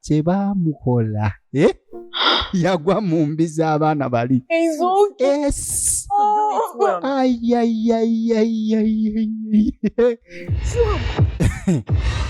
kye baamukola eh? yagwa mu mbi z'abaana bali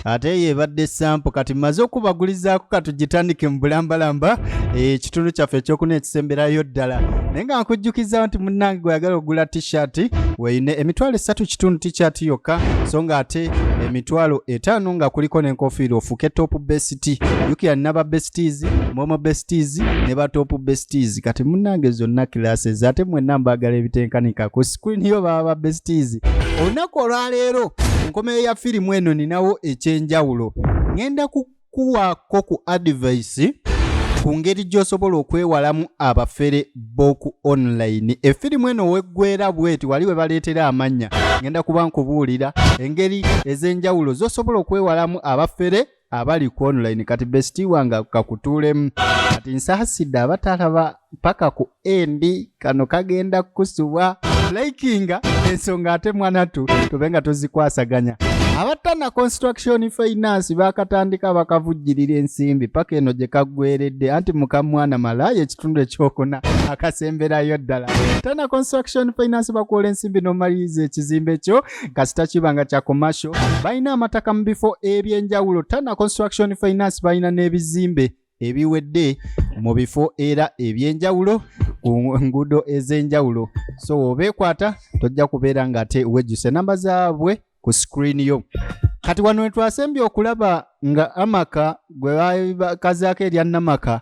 ate eyo ebadde sampo kati maze okubagulizaako katugitandike mu bulambalamba eh, ekitundu kyaffe ekyokuna ekisemberayo ddala naye nga nkujjukizawo nti munnange gweyagala okugula tishati weyine emitwalo esatu kitundu tishati yokka so nga ate emitwalo e- etaano nga kuliko n'enkofiira ofuuke top best yukira naba besties momo besties ne ba top besties kati munange zonna classes ate mwenna mbaagala ebitenkanika ku screen yo baba ba besties olunaku olwaleero nkomeyo ya firimu eno ninawo ekyenjawulo ngenda ku kuwaako ku adivayisi ku ngeri gy'osobola okwewalamu abafere b'oku online efirimu eno weggwera bweti wali we baleetera amannya ngenda kuba nkubuulira engeri ez'enjawulo z'osobola okwewalamu abafere abali ku online kati besiti wange kakutuulemu kati nsaasidde abatalaba paka ku endi kano kagenda kukusubwa likinga ensonga ate mwanatu tube nga tuzikwasaganya abattana construction finance bakatandika bakavujjirira ensimbi paka eno gye kaggweredde anti mukamwana malaaya ekitundu ekyokuna akasemberayo ddala tana construction finance bakuola ensimbi nomaliriza ekizimbe kyo kasita kiba nga kya commercial balina amataka mu bifo ebyenjawulo tana construction finance balina n'ebizimbe ebiwedde mu bifo era eby'enjawulo ku nguudo ez'enjawulo so obeekwata tojja kubeera ng'ate wejjusa enamba zaabwe ku sikuriini yo kati wano wetwasembye okulaba nga amaka gwe bakazaako erya namaka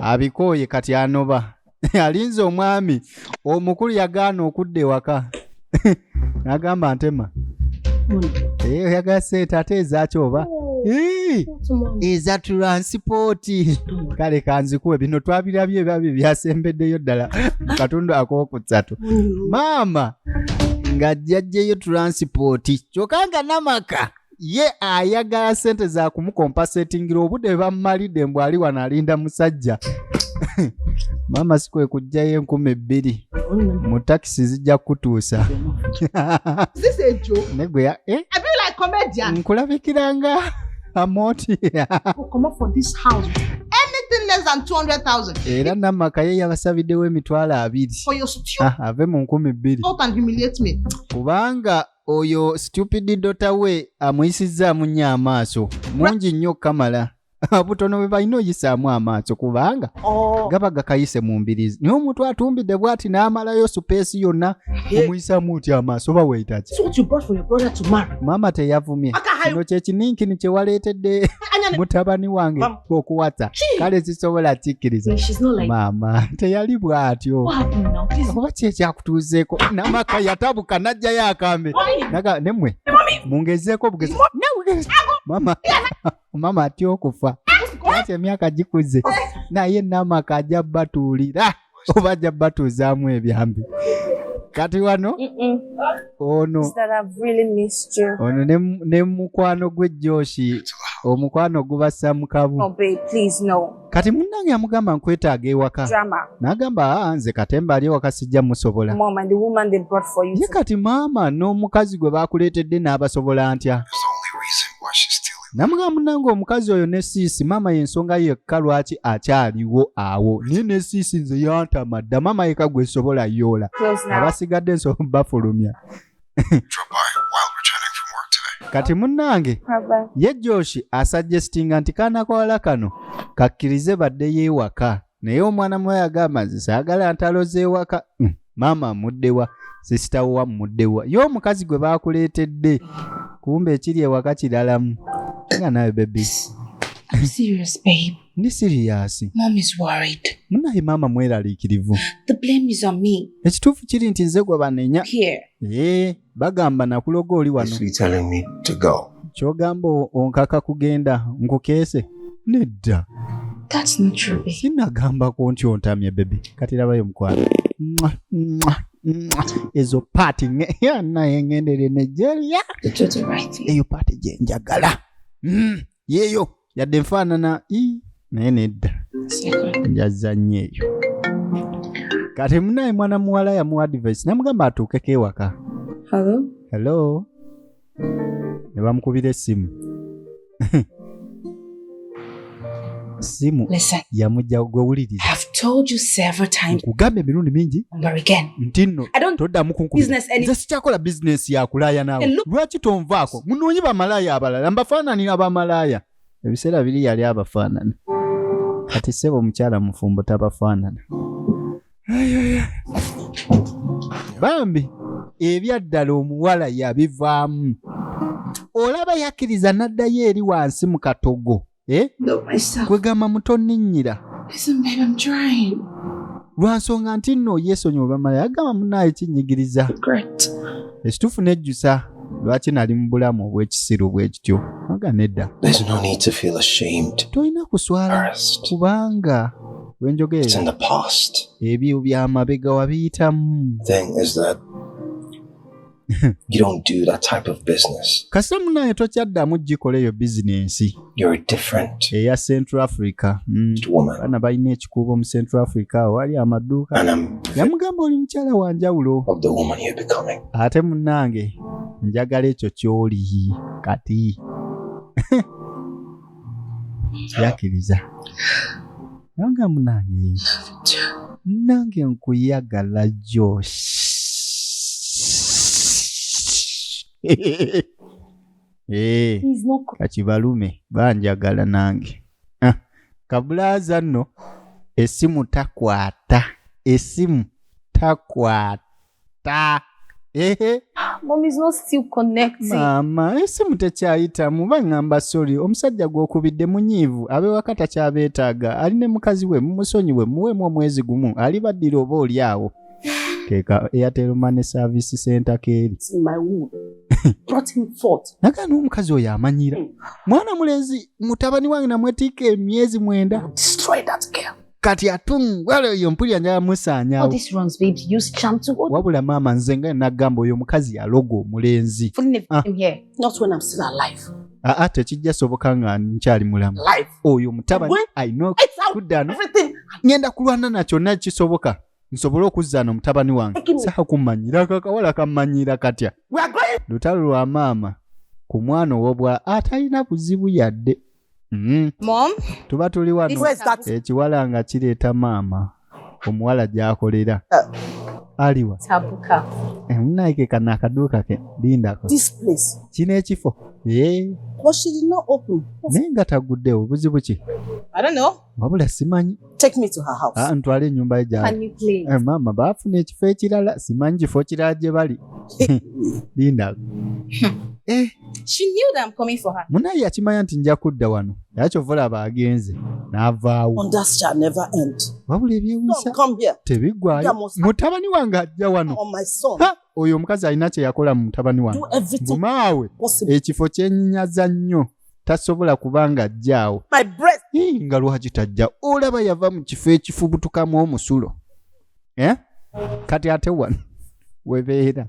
abikooye kati anoba alinze omwami omukulu yagaana okudda ewaka nagamba ntema eh, oyagala sente ate ezaki oba eza tulansipooti kale kanzikuwe bino twabirabye ebyabi byasembeddeyo ddala katundu akokutsatu maama nga jjajjeyo tulansipooti kyokka nga namaka ye ayagala sente za kumukompasetingira obude bamumalidde mbu ali wano alinda musajja maama si kwe kujjayo enkumi ebbiri mu takisi zijja kutuusa negweya eh? nkulabikiranga amoti era namaka ye yabasabiddewo emitwalo abiri ah, ave mu nkumi bbiri kubanga oyo stupid dota we amuyisizzaamu nnyo amaaso mungi nnyo okukamala butono bwe balina oyisaamu amaaso kubanga oh. gaba gakayise mu mbirizi naye omuntu atumbidde bwati n'amalayo supeesi yonna omuyisaamu otya amaaso oba weetaki maama teyavumye kino kyekininkini kyewaleetedde mutabani wange okuwata kale zisobola kikkiriza maama teyali bw'atyo oba ki ekyakutuuzeeko namaka yatabuka n'ajjayo akambe naga nemwe mungezeeko obugezi maama maama atya okufa ati emyaka gikuze naye namaka ajja batuulira oba ajja batuuzaamu ebyambi kati wano ono ono ne mukwano gwe joshi omukwano gubassa mu kabu oh, kati munnange amugamba nkwetaaga ewaka n'agamba aa ah, nze katemba ali ewaka sijja musobola ye kati maama n'omukazi gwe baakuleetedde n'abasobola ntya namuga munange omukazi oyo ne siisi maama yensonga yekka lwaki akyaliwo awo naye ne siisi nze yantama dda maama yeka gwesobola yoola abasigadde nsobo bafulumya kati munange ye joshi asuggestinga nti kaana kawala kano kakkirize badde yeewaka naye omwana muwa yagamba nze saagala ntalo z'ewaka mm, maama amuddewa sisitawo wammuddewa ye omukazi gwe baakuleetedde kumba ekiri ewaka kiralamu nga nawe bebi ndi siriyasi munaye maama mweraliikirivu ekituufu kiri nti nze gwe banenya bagamba nakuloga oli wano kyogamba onkaka kugenda nkukeese nedda sinagambako nti ontamye bebi kati labayo mukwano ezo paati naye ngendere nigeria eyo paati gyenjagala mm. yeeyo yadde nfaanana naye nedda njazannyo eyo kati munaye mwana muwala yamuwa advice namugamba atuukeko ewaka hello ne bamukubira essimu simu yamujja gwe wuliriza nkugamba emirundi mingi nti nno toddamu kunkubiza sikyakola bizinesi yakulaaya naawe lwaki tonvaako munoonyi bamalaaya abalala mbafaanani abamalaaya ebiseera biri yali abafaanana kati sebo omukyala mufumbo tabafaanana bambi ebyaddala omuwala yabivaamu olaba yakkiriza n'addayo eri wansi mu katogo eh? kwegamba mutoninnyira lwansonga nti nno yesonyi obamala yagamba munaayo kinyigiriza ekituufu nejjusa lwaki nali mu bulamu obw'ekisiru bwekityo aga nedda tolina kuswala kubanga wenjogera ebyo byamabega wabiyitamu You don't do that type of business. Kasita munaye tokyaddamu gikola eyo bizinensi. You're different. Eya Central Africa. Mm. Bana balina ekikuubo mu Central Africa wali amaduuka. Yamugamba oli mukyala wa njawulo. Of the woman you're becoming. Ate munange njagala ekyo ky'oli kati. yakiriza nanga munange nange nkuyagala jo eh, kati balume banjagala nange ah, kabulaza nno esimu takwata esimu takwata ta ehe mom is not still connecting maama esimu tekyayitamu baŋŋamba sori omusajja gw'okubidde munyiivu abewaka takyabeetaaga ali ne mukazi we mumusonyiwe muweemu omwezi gumu ali baddira oba oli awo keeka airtel money service center keeri It's my woman brought him forth nagaa n'omukazi oyo amanyira mwana mulenzi mutabani wange namwetikka emyezi mwenda destroy that girl kati atungwala oyo mpulira njala musaanyawo wabula maama nze nga nagamba oyo omukazi yaloga omulenzi ah. aa ah, ah, tekijja soboka nga nkyali mulamu oyo mutabani ayina kuddano ngenda kulwana na kyonna kisoboka nsobole okuzzana omutabani wange saha kumanyira kakawala kamanyira katya lutalo lwa maama ku mwana owobwa atalina buzibu yadde Mm. Mom, tuba tuli wano ekiwala nga kireeta maama omuwala gyakolera uh, aliwa tabuka eh, munaike kano akaduuka ke lindako kino ekifo eh. naye nga taguddewo buzibu ki wabula simanyi ah, ntwala enyumba gyali eh, maama baafuna ekifo ekirala simanyi kifo kirala gye bali linda eh. munaye yakimanya nti nja kudda wano era kyova olaba agenze n'avaawo wabula ebyewusa tebiggwayo mutabani wange ajja wano oh, oyo omukazi alina kye yakola mu mutabani wange gumaawe ekifo kyenyinyaza nnyo tasobola kubanga ajjaawo nga lwaki tajja olaba yava mu kifo ekifubutukamu omusulo eh? kati ate wano webeera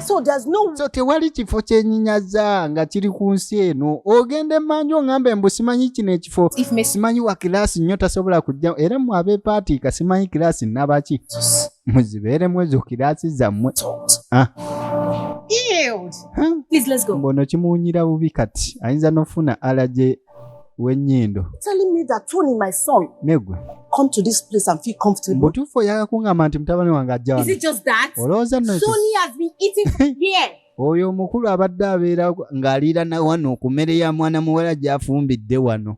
so there's no so tewali kifo kyenyinyaza nga kiri ku nsi eno ogenda emanju ongambe mbu simanyi kino ekifo simanyi wa kilaasi nnyo tasobola kujja era mwe abepaatiika simanyi kilaasi nabaki muzibeeremu ezo kiraasi zammwe ah. mbono kimuwunyira bubi kati ayinza n'ofuna alaje w'ennyindo negwe come to this place and feel comfortable. Butufu ya kunga manti mtabani wanga ajana. Is it just that? Oloza no. Sony has been eating from here. Oyo mukulu abadde abeera ng'aliira na wano ku mmere ya mwana muwala gy'afumbidde wano.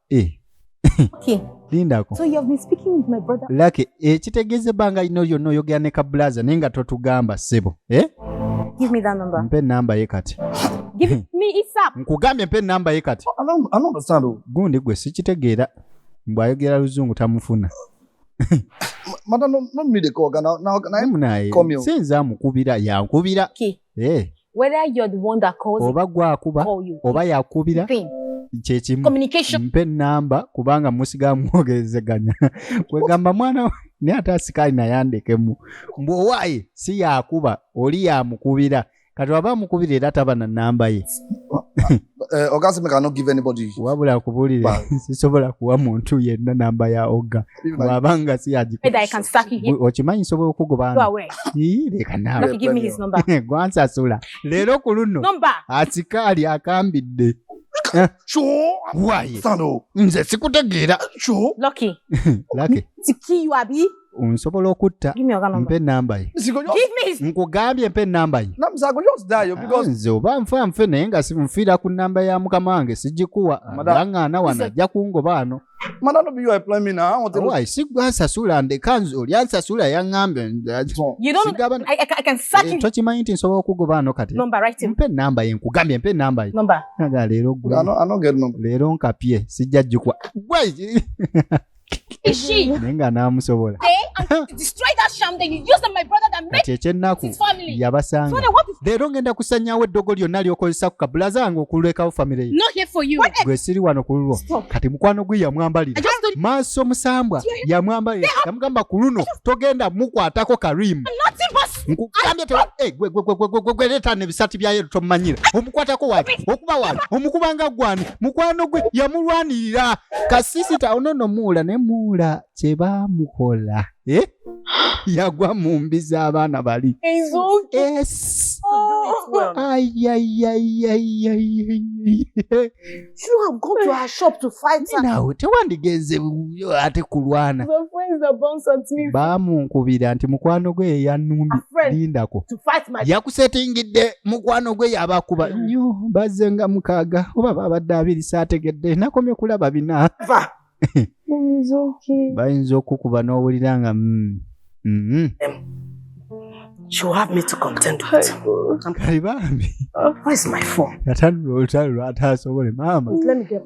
Eh. Okay. Lindako. So you have been speaking with my brother. Lucky, eh, kitegeeza ebbanga lino lyonna oyogera ne kabulaza naye nga totugamba ssebo. Eh? Give me that number. Mpe namba ye kati. Give it me ASAP. Nkugambye mpe namba ye kati. I don't, I don't understand. Oh. Gundi gwe sikitegeera. Mbu ayogera luzungu tamufuna. Mata no no me the call now now can I call me. Sinza mukubira ya nkubira. Okay. Eh. oba gwakuba oba yakubira kyekimu mpe enamba kubanga musiga mwogezeganya kwegamba mwana naye ate asikaali nayandekemu mbu owaaye si yakuba oli yamukubira kati waba amukubira era taba na namba ye Eh, oga aseme ka no give anybody wabula kubulire sisobola kuwa muntu yenna namba ya oga waba nga siyaokimanyi nsobola okugobanagwansasula leero ku luno asikaali akambidde eh. nze sikutegeera nsobola okutta mpe enamba ye nkugambye mpe enamba ye ah, nze oba nfa nfe naye nga nfiira ku namba ya mukama wange sigikuwa aŋŋaana wano ajja kungoba ano sigwasasula ndeka nze oli ansasula yaŋŋambetokimanyi nti nsobola okugoba ano kati mpe enamba ye nkugambye mpe enamba ye leero nkapye sijja jjukwa naye nga n'amusobola kati ekyennaku yabasanga leero ngenda kusanyawo eddogo lyonna lyokozesa ku kabula zange okulekawo famire yegwe siri wano ku lulwo kati mukwano gwe yamwambalira maaso musambwa yamwambalira yamugamba ku luno togenda mukwatako karimu nkugambye te eh, gwe gwe gwe gwe gwe leta ne bisati bya yeru to manyira omukwata ko wali okuba wali omukubanga gwani mukwano gwe yamulwanirira kasisi ta ono no mula ne mula che ba mukola eh yagwa mu mbi z'abaana bali yes. oh. well. ay, ay, ay, ay, ay, ay. shouldn't have gone to her shop to fight her. Ninawe tewandigenze ate kulwana. The friends that bounce at me. Bamunkubira nti mukwano gwe yeyanumbi lindako. To fight my yakusetingidde mukwano gwe yabakuba nnyo bazze nga mukaaga oba babadde abiri saategedde nakomye kulaba bina. bayinza okukuba n'owulira nga mm, mm-hmm. ataasobole maama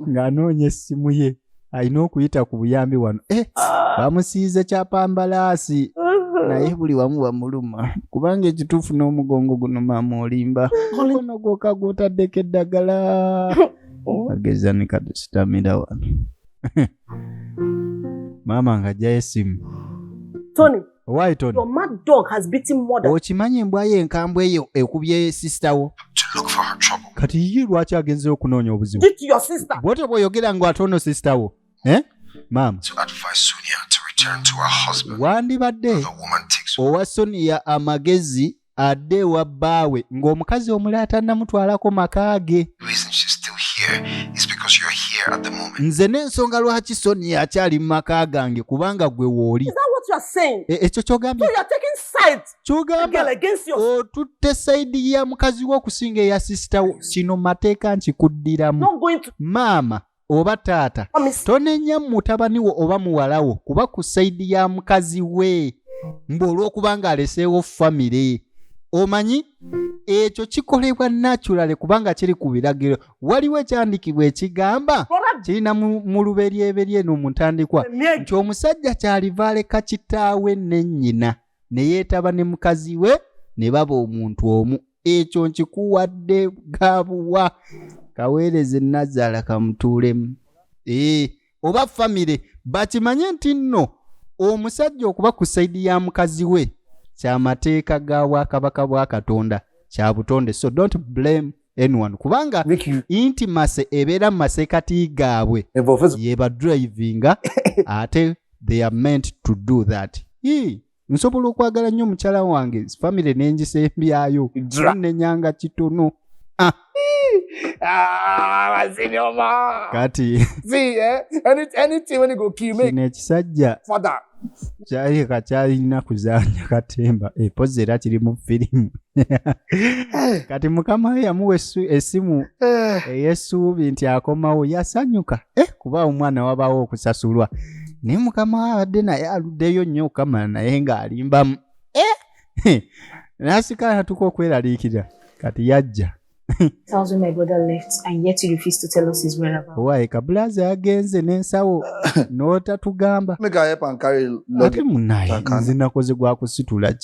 ng'anoonya essimu ye alina okuyita ku buyambi wano eh, ah. bamusiize kyapambalaasi uh-huh. naye buli wamu bamuluma kubanga ekituufu n'omugongo guno maama olimba okono gwoka gwotaddeko eddagala ageza ni katusitamira wano maama nga ajjayo esimu tony Why Tony? Your mad dog has beaten more than Okimanyi embwa ye enkambwe eyo ekubye sister wo. To look for her trouble. Kati yiyi lwaki agenze okunoonya obuzibu? Did your sister? Bwote bwoyogera ngo atono sister wo. Eh? Mama. To advise Sonia to return to her husband. Wandibadde. The woman takes owa Sonia amagezi adde ewa bbaawe ng'omukazi omulaata namutwalako maka ge nze n'ensonga lwaki soni akyali mu maka gange kubanga gwe wooli e, ekyo kyogambye kyogamba otutte sayidi ya mukazi wo okusinga eya sisita wo kino mateeka nkikuddiramu maama oba taata tonenya mutabani wo oba muwala wo kuba ku saidi ya mukazi we mbu olw'okuba ng'aleseewo famire omanyi ekyo kikolebwa naturale kubanga kiri ku biragiro waliwo ekyandikibwa ekigamba kirina mu luberyeberye no mu ntandikwa nti omusajja kyaliva aleka kitaawe ne nnyina ne yeetaba ne mukazi we ne baba omuntu omu ekyo nkikuwadde gabuwa kaweereze nazaala kamutuulemu ee oba famire bakimanye nti nno omusajja okuba ku saidi ya mukazi we kyamateeka ga bwakabaka bwa katonda kya butonde so don't blame anyone kubanga inti mase ebeera mu maseekati gaabwe yebadrivinga ate they are meant to do that Hii. nsobola okwagala nnyo mukyala wange famire nengisembyayo nenyanga kitono ah. Ah, kati kino ekisajja kyali kakyalina kuzanya katemba epozi eh, era kiri mu firimu Eh. kati mukama we yamuwa esimu eh. eyesuubi nti akomawo yasanyuka eh, kuba omwana wabawo okusasulwa naye mukama we abadde naye aluddeyo nnyo okukamala naye ng'alimbamu nasigala natuka okweraliikirira kati yajja tells me my brother left and yet you refuse to tell us his whereabouts. Why? Kabulazi agenze n'ensawo n'otatugamba. Make I help and carry luggage. Ate munaye nze nakoze gwa kusitula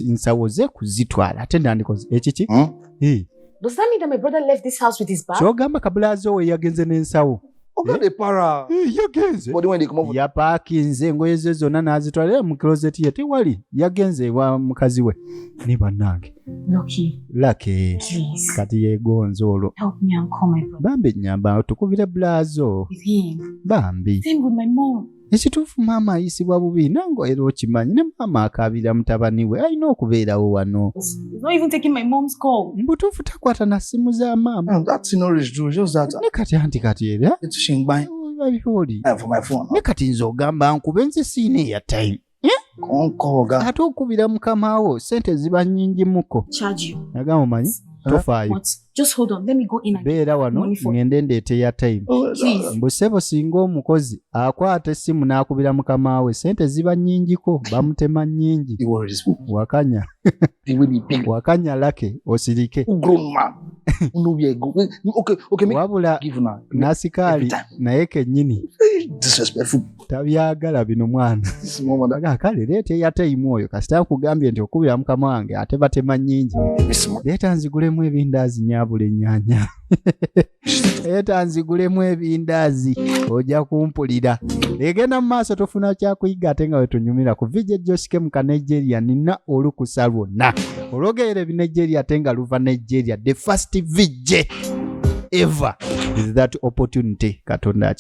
nsawo ze kuzitwala ate nandikoze ekiki. Hmm? Does that mean that my brother left this house with his bag? Kyogamba Kabulazi owe yagenze n'ensawo. ogende para Eh, yagenze body wendi kumuvu yapakinze engoye ze zonna n'azitwala era mu closet ye tewali yagenze ewa mukazi we ne bannange Loki, lake please kati yegonze olwo help me and call my brother bambi nyamba tukubire bulazo with him. bambi Same with my mom. ekituufu maama ayisibwa bubi nange era okimanyi ne maama akaabira mutabani we alina okubeerawo wano mbutuufu takwata na ssimu za maama ne kati anti kati era ne kati nze ogamba nkube nze siina eya time konkooga ate okubira mukama wo sente ziba nyingi muko naga mumanyi tofaayo beera wano ŋende ndeete ya time oh, mbu sebo singa omukozi akwata essimu n'akubira mukama we sente ziba nyingiko bamutema nyingi wakanya wakanya lake osirike wabula nasikaali naye kenyini tabyagala bino mwana kale leeta eyataimu oyo kasita nkugambye nti okubira mukama wange ate batema nyingi leeta nzigulemu ebindaazi nyabula enyanya leeta nzigulemu ebindaazi ojja kumpulira egenda mu maaso tofuna kyakuyiga ate nga wetunyumira ku vije josike mu kanigeria nina olukusa lwonna olwogerera ebinigeria ate nga luva nigeria the first vije ever is that opportunity katonda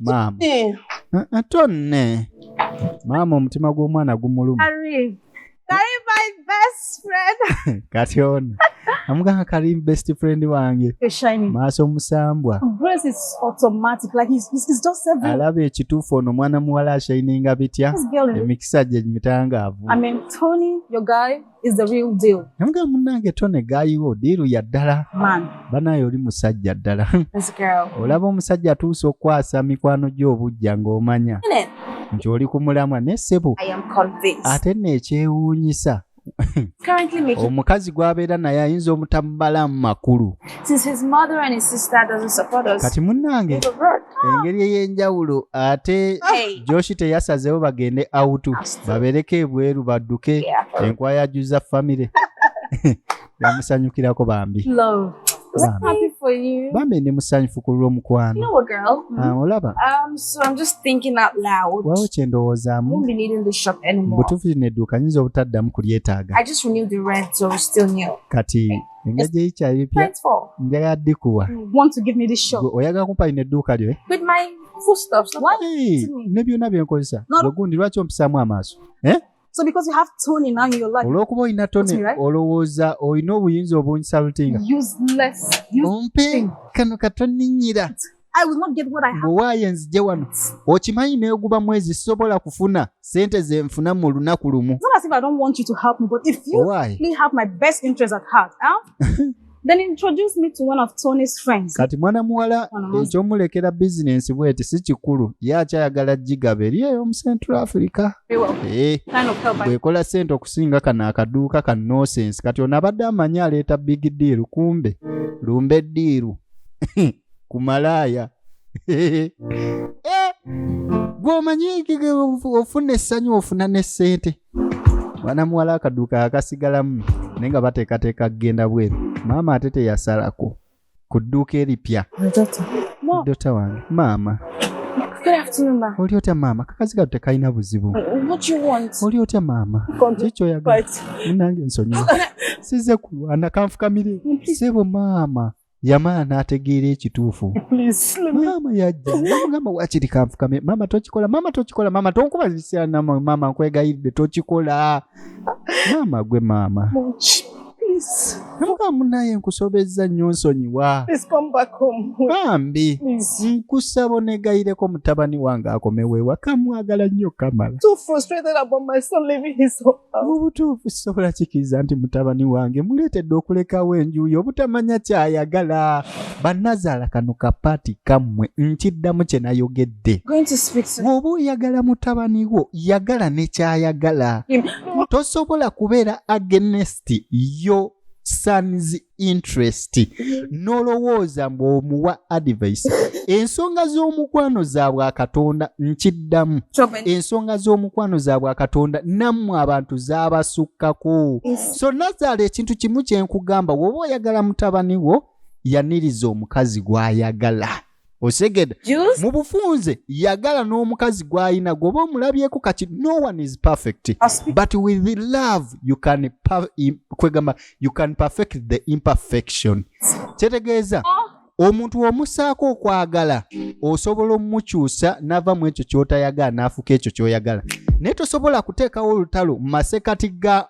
maama eh. ah, ah, tonne maama omutima gw'omwana gumuluma kati ono amugamba kali best friend wange maaso musambwa alaba ekituufu ono omwana muwala ashayininga bitya emikisa gye mitangaavu is the real deal. Namga munange tone gayi wo diru ya dala. Man. Bana yoli musajja dala. This girl. Olaba omusajja atuusa okwasa mikwano gy'obujja ng'omanya. Nti oli ku mulamwa ne ssebo. I am convinced. Ate nekyewuunyisa. Currently making. Omukazi gw'abeera naye ayinza omutamubala mu makulu. kati munnange engeri ey'enjawulo ate joshi teyasazeewo bagende awutu babereko ebweru badduke enkwaya juza famire yamusanyukirako bambi bambi ndi musanyufu ku lw'omukwano ah, olaba um, wawo kye ndowoozaamu butuufu lino edduuka nyinza obutaddamu kulyetaaga kati engajja yikyayo epya njagala dikuwa oyagala kumpa lino edduuka lyo eh? ne byonna byenkozesa ogundi lwaki ompisaamu amaaso eh? So because you have tone in your life. Olwokuba olina tone right? olowooza olina obuyinza obunsalutinga. Useless. Ompe kano katoninyira. bwewaaye nzije wano okimanyi neguba mwezi sisobola kufuna sente zenfuna mu lunaku lumu Then introduce me to one of Tony's friends. Kati mwana muwala ekyomulekera business bweti si kikulu ye akyayagala gigabe eri eyo mu Central Africa eh. bwekola sente okusinga kano akaduuka ka nosense kati ono abadde amanyi aleeta big deal kumbe lumbe diiru ku malaaya Eh, gwomanyi ofuna essanyu ofuna ne ssente mwana muwala akaduuka akasigalamu naye nga bateekateeka kugenda bweru maama ate teyasalako ku dduuka eripya dota wange maama oli otya maama kakazi katu tekalina buzibu uh, oli otya maama kikyoyaga munange ensonyiwa size kulwana kanfukamire sebo maama yamala n'ategeera ekituufu maama yajja namugamba wakiri kanfukame maama tokikola maama tokikola maama tonkuba zisirana maama nkwegayiridde tokikola maama gwe maama namugamba munaye nkusobezza nnyo nsonyiwa bambi nkusaba onegayireko mutabani wange akomewo ewaka mwagala nnyo kamala mu butuufu sisobola kikiriza nti mutabani wange muleetedde okulekawo enjuuyi obutamanya kyayagala banazaala kano kapaati kammwe nkiddamu kye nayogedde bw'oba oyagala mutabani wo yagala ne kyayagala tosobola kubeera agenesti yo sons interest nolowooza mbu omuwa advice ensonga z'omukwano zaabwe akatonda nkiddamu ensonga z'omukwano zaabwe akatonda nammwe abantu zaabasukkako so nazaala ekintu kimu kyenkugamba woba oyagala mutabani wo yaniriza omukazi gw'ayagala osegede mu bufunze yagala n'omukazi gw'alina gwoba omulabyeko kati no one is perfect but with the love you can kwegamba you can perfect the imperfection kyetegeeza oh. omuntu omusaako okwagala osobola omukyusa nava mu ekyo kyotayagala n'afuka ekyo kyoyagala naye tosobola kuteekawo olutalo mu masekati ga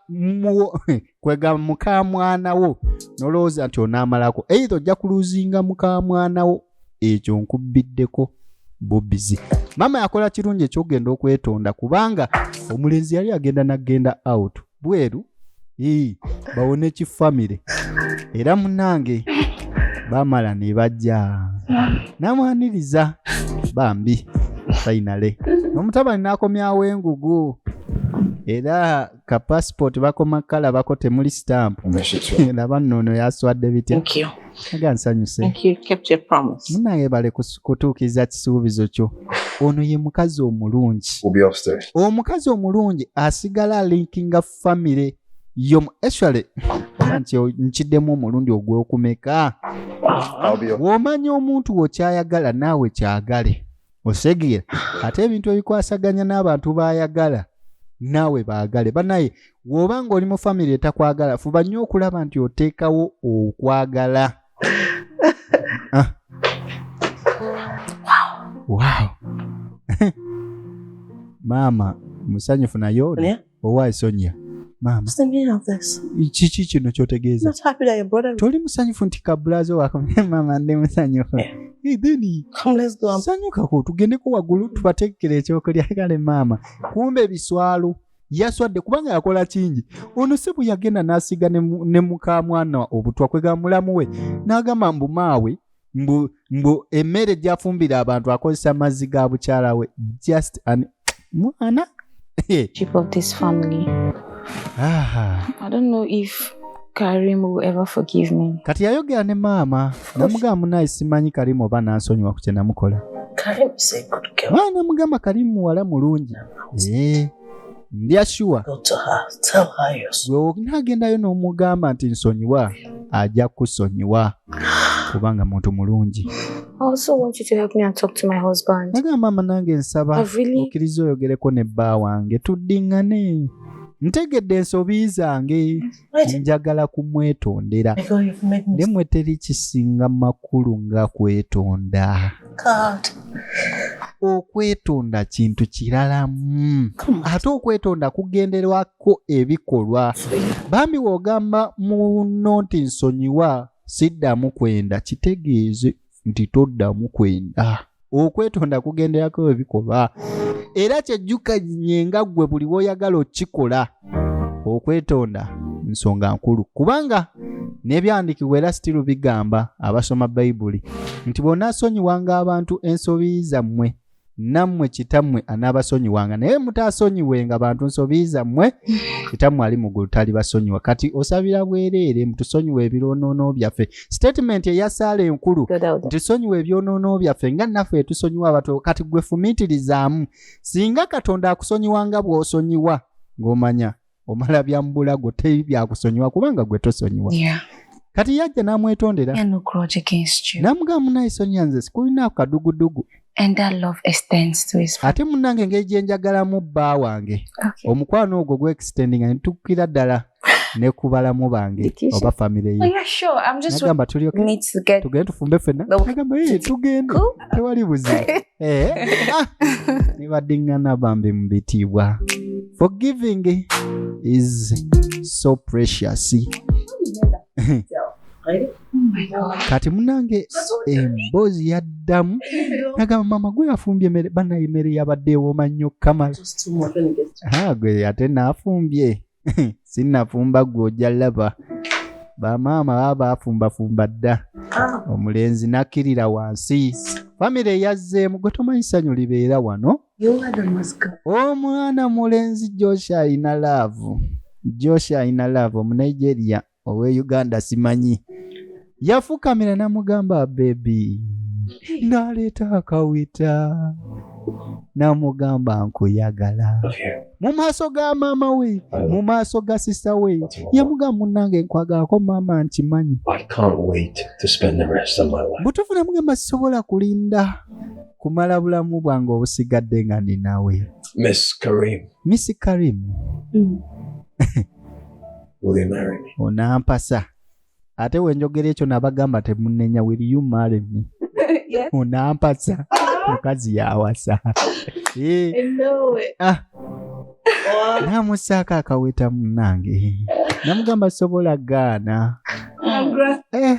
kwega mukamwana wo nolowooza nti onaamalako eitha ojja kuluzinga mukamwana wo ekyo nkubbiddeko bubizi maama yakola kirungi ekyokugenda okwetonda kubanga omulenzi yali agenda nagenda out bweru ii bawone kifamire era munange bamala ne bajja namwaniriza bambi fainale omutabani n'akomyawo engugu era ka passport bakoma kala bako temuli stamp laba nno ono yaswadde bitya aga nsanyuse munange bale kutuukiriza kisuubizo kyo ono ye mukazi omulungi omukazi omulungi asigala linkinga famire yo actually nti nkiddemu omulundi ogwokumeka womanya omuntu wokyayagala naawe kyagale osegira ate ebintu ebikwasaganya n'abantu baayagala naawe baagale banaye woba nga oli mu famiry etakwagala fuba nnyo okulaba nti oteekawo okwagala ah. wow. maama musanyufu naye oli yeah. Owaaye Sonia, maama, kiki kino kyotegeeza? Toli musanyufu nti kabulaazo wako? Maama, ndi musanyufu. Eh. Sanyukako tugendeko waggulu tubateekere ekyokulya. Kale maama, kumba ebiswalo yaswadde kubanga yakola kingi ono si bwe yagenda n'asiga ne mukamwana obutwa kwegamba mulamu we n'agamba mbu maawe mbu mbu emmere gyafumbira abantu akozesa mazzi ga bukyala we just an mwana kati yayogera ne maama namugamba munaye simanyi karimu oba nansonyiwa ku kyenamukola namugamba karimu muwala mulungi ndyashuwa gweonagendayo n'omugamba nti nsonyiwa ajja kusonyiwa kubanga muntu mulungi naga maama nange nsaba okkiriza oyogereko ne bba wange tuddiŋŋane ntegedde ensobi zange njagala kumwetondera ne mwe teri kisinga makulu nga kwetonda okwetonda kintu kiralamu ate okwetonda kugenderwako ebikolwa bambi wogamba muno nti nsonyiwa siddamu kwenda kitegeeze nti toddamu kwenda okwetonda kugenderako bwe bikolwa era kyejjukanye nga ggwe buli woyagala okukikola okwetonda nsonga nkulu kubanga n'ebyandiikibwa era sitiru bigamba abasoma bayibuli nti bw'onaasonyiwanga abantu ensobi zammwe nammwe kitammwe anaabasonyiwanga naye mutaasonyiwenga bantu nsobi zammwe kitammwe ali mu ggulu talibasonyiwa kati osabira bwereere mutusonyiwa ebironoono byaffe sitatimenti eya saala enkulu ntusonyiwa ebyonoono byaffe nga naffe etusonyiwa abato kati gwe fumiitirizaamu singa katonda akusonyiwa nga bw'osonyiwa ng'omanya omala byamubulago teri byakusonyiwa kubanga gwe tosonyiwa yeah. kati yajja namwetondera namugaa munaye sonya nze sikulinaako kadugudugu ate munange engeri gyenjagalamu bba wange okay. omukwano ogwo gwextendinga netukukira ddala nekubalamu bange oba famire yenagamba oh, tulyotugende tufumbe fenna nagamba tugende tewali buzibu Eh, ah, nibadiŋŋana bambi mu bitiibwa forgiving is so precious kati munange emboozi yaddamu nagamba mama gwe yafumbye emere banaye emere yabadde ewooma nnyo kamala Ah, gwe ate naafumbye sinnafumba gwe ojja laba bamaama baba bafumbafumba dda ah. omulenzi nakkirira wansi famire yazzeemu gwe tomanyi ssanyu libeera wano omwana mulenzi josh alina laavu josh alina laavu omunigeria owe uganda simanyi yafukamira namugamba bebi naleeta akawita namugamba nkuyagala mu maaso ga maama we mu maaso ga sisa we yamugamba munange nkwagalako maama nkimanyi butufu namugamba sisobola kulinda kumala bulamu bwange obusigadde nga ndi nawe miss karim mm. onampasa ate wenjogera ekyo nabagamba temunenya will you marry me onampasa mukazi yawasa eh. ah. namusaako akaweta munange namugamba sobola gaana eh.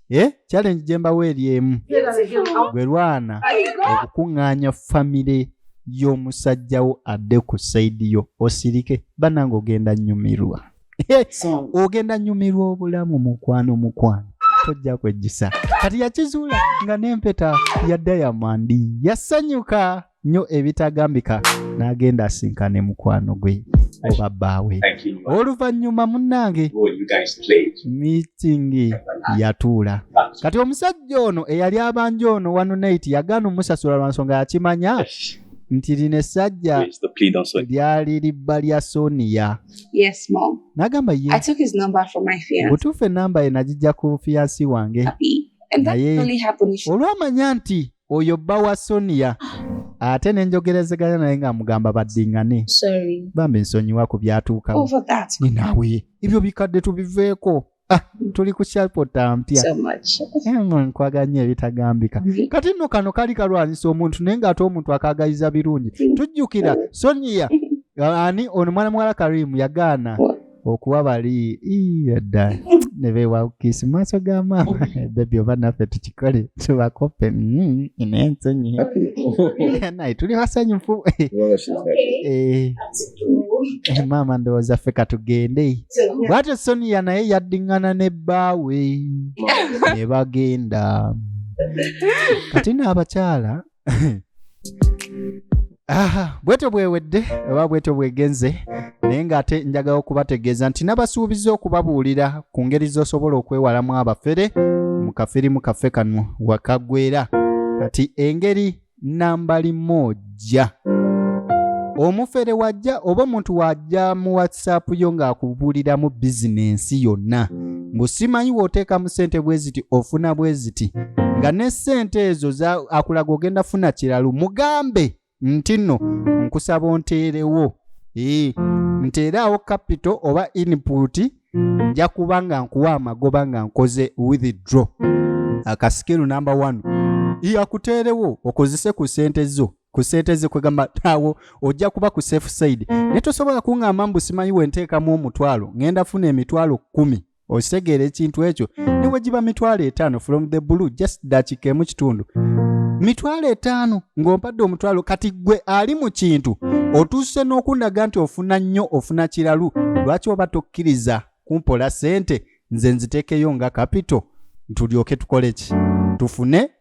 eh, challenge gye mbawo eri emu gwe lwana okukuŋŋaanya famire y'omusajjawo adde ku saidi yo osirike banange ogenda nyumirwa eh, ogenda nyumirwa obulamu mukwano mukwano tojja kwejjisa kati yakizuula nga n'empeta ya dayamandi yasanyuka nnyo ebitagambika n'agenda asinkane mukwano gwe oba bbaawe oluvannyuma munnange miitingi yatuula kati omusajja ono eyali abanja ono wanunate yagaana omusasula lwa nsonga yakimanya nti lino essajja lyali libba lya soniya nagamba ye butuufu enamba ye nagijja ku fiyansi wange naye olwamanya nti oyo bba wa sonia ate nenjogerezeganya naye nga amugamba baddingane bambi nsonyiwa ku byatuukawo ninaawe ebyo bikadde tubiveeko ah, tuli ku shalpota mpya nkwaga nnyo ebitagambika kati nno kano kali kalwanyisa omuntu naye nga ate omuntu akaagaliza birungi tujjukira sonia ani ono mwana muwala karimu yagaana okuwa bali yadda ne beewawukiisi mu maaso ga maama bebi oba naffe tukikole tubakope mm, ina ensonyi naye tuli basanyufu eh, maama ndowooza ffe katugende bwatyo sonia naye yaddiŋŋana ne bbaawe ne bagenda kati n'abakyala bwetyo bwewedde oba bwetyo bwegenze naye ng'ate njagala okubategeeza nti nabasuubiza okubabuulira ku ngeri z'osobola okwewalamu abafere mu kafirimu kaffe kano wakagwera kati engeri nambali moja omufere wajja oba omuntu wajja mu whatsapp yo ng'akubuuliramu bizinensi yonna mbu simanyi w'oteeka mu ssente bwe ziti ofuna bwe ziti nga ne ssente ezo akulaga ogenda funa kiralu mugambe nti nno nkusaba onteerewo ee nteeraawo kapito oba inputi nja kuba nga nkuwa amagoba nga nkoze withdraw akasikiru namba 1 iyakuteerewo okozese ku ssente zo ku sente ze kwegamba awo ojja kuba ku safe side naye tosobola kuŋŋamba mbu simanyi we nteekamu omutwalo ŋŋenda funa emitwalo kkumi okitegeera ekintu ekyo ne we giba mitwalo etaano from the blue just dakiika emu kitundu mitwalo etaano ng'ompadde omutwalo kati ggwe ali mu kintu otuuse n'okundaga nti ofuna nnyo ofuna kiralu lwaki oba tokkiriza kumpola sente nze nziteekeyo nga kapito ntulyoke tukole ki tufune